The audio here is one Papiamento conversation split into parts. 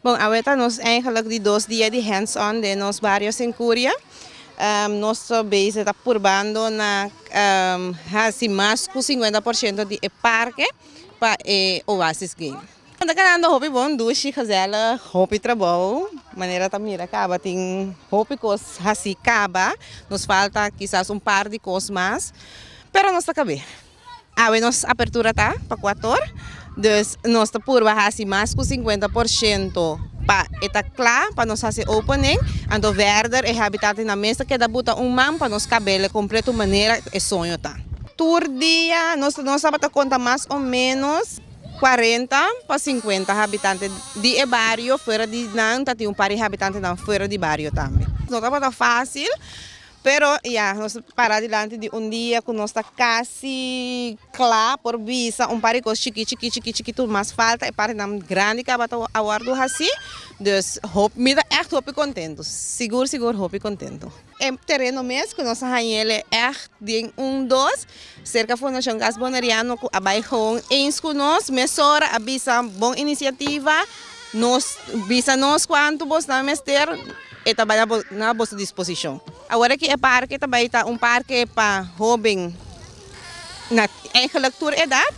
Bon, awe ta nos eigenlijk di dos dia di hands on den nos bario Senkuria. Nos ta bezig ta purbando na hasi mas ku sinkuenta por shento di e parke pa e Oasis Game. Nos ta kanando hopi bon, dushi, gezellig, hopi trabou. Manera ta mira kaba tin hopi kos hasi kaba, nos falta kisas un par di kos mas, pero nos ta kab'é. Awe nos apertura ta pa kuator, dus nos ta purba hasi mas ku sinkuenta por shento pa e ta kla pa nos hasi opening, anto verder e habitatnan ta mester keda buta un man pa nos kabele kompleto manera e soño ta. Tur dia nos nos tabata konta mas o menos kuarenta pa sinkuenta habitante di e bario, fuera di nan ta tin un par di habitantenan fuera di bario tambe. No tabata fasil Pero ya nos a para dilanti di un dia ku nos ta kasi kla por bisa un par di kos chikí chikí chikí chikí tur mas falta e partinan grandi tabata a wòrdu hasí, dus hop mi ta ègt hopi kontentu, sigur sigur hopi kontentu. E tereno mes ku nos a hañ'e lei ègt den un dos Serka Fundacion Gas Boneriano cu a bay gewoon eens cu nos mesora a bisa bon iniciativa nos bisa nos cuanto bos nan mester e ta bay na boso disposicion. Awor aki e parke ta bay ta un parke pa hoben na eigenlijk tur edad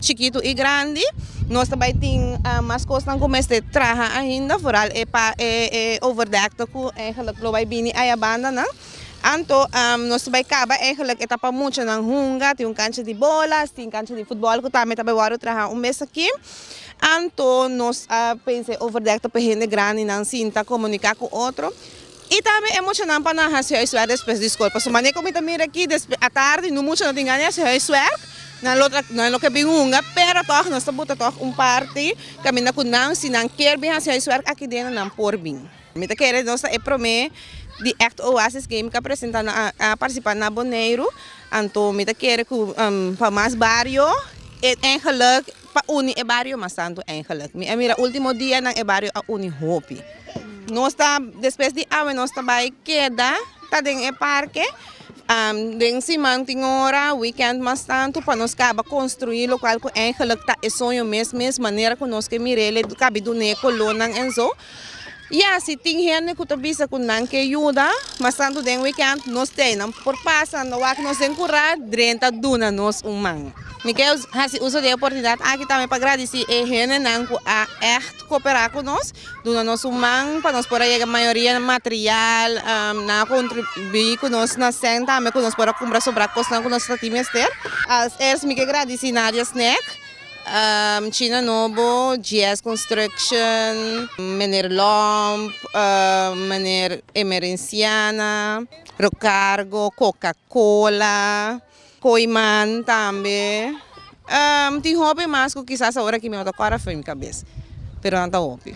chikito y grandi nos ta bay tin mas cosnan cu mester traha ainda vooral e overdekte cu lo bay bini ayabanda nan. Anto nos ta bai kaba eigenlijk e ta pa muchanan hunga tin un kancha di bola tin kancha di futbòl ku tambe ta bai wòrdu traha un mes aki anto nos a pensa e overdek ta pa e hende grandi nan sinta komuniká ku otro i tambe e muchanan pa nan hasi huiswèk despues di skol pasobra manera ku mi ta mira aki despues atardi no mucha no tin gana di hasi huiswèk nan lo nan lo ke bin hunga pero tòg nos ta buta tòg un parti kaminda ku nan si nan kier bin hasi huiswèk akideno nan por bin. Mi ta kere nos ta e prome di act oasis game ka presenta na a participa na Boneiru anto mi ta kere cu pa mas bario e eigenlijk pa uni e bario mas tanto eigenlijk mi a mira ultimo dianan e bario a uni hopi nos ta despues di awe nos ta bay keda ta den e parke den siman tin ora weekend mas tanto pa nos caba construi locual cu eigenlijk ta e soño mes mes manera cu nos ke mire le cabi dune colonnan en zo. Ya, si tin hende ku ta bisa ku nan ke yuda, mas tantu den wikènt, nos te ainan por pasa, no wak nos den kurá, drenta duna nos un man. Mi kei hasi uso di e oportunidat aki tambe pa gradisí e hendenan ku a ègt koperá ku nos, duna nos un man pa nos por a yega mayoria material, nan a kontribuí ku nos na sèn tambe ku nos por a kumpra sobrá kosnan ku nos ta tin mester. Als eerst mi ke gradisí Nadia Snack. China Nobo, GS Construction, Meneer Lomp, Meneer Emerenciana, Rocargo, Coca Cola, Coiman tambe tin hopi mas cu kisas aora aki mi no ta cora afe mi cabes pero nan ta hopi.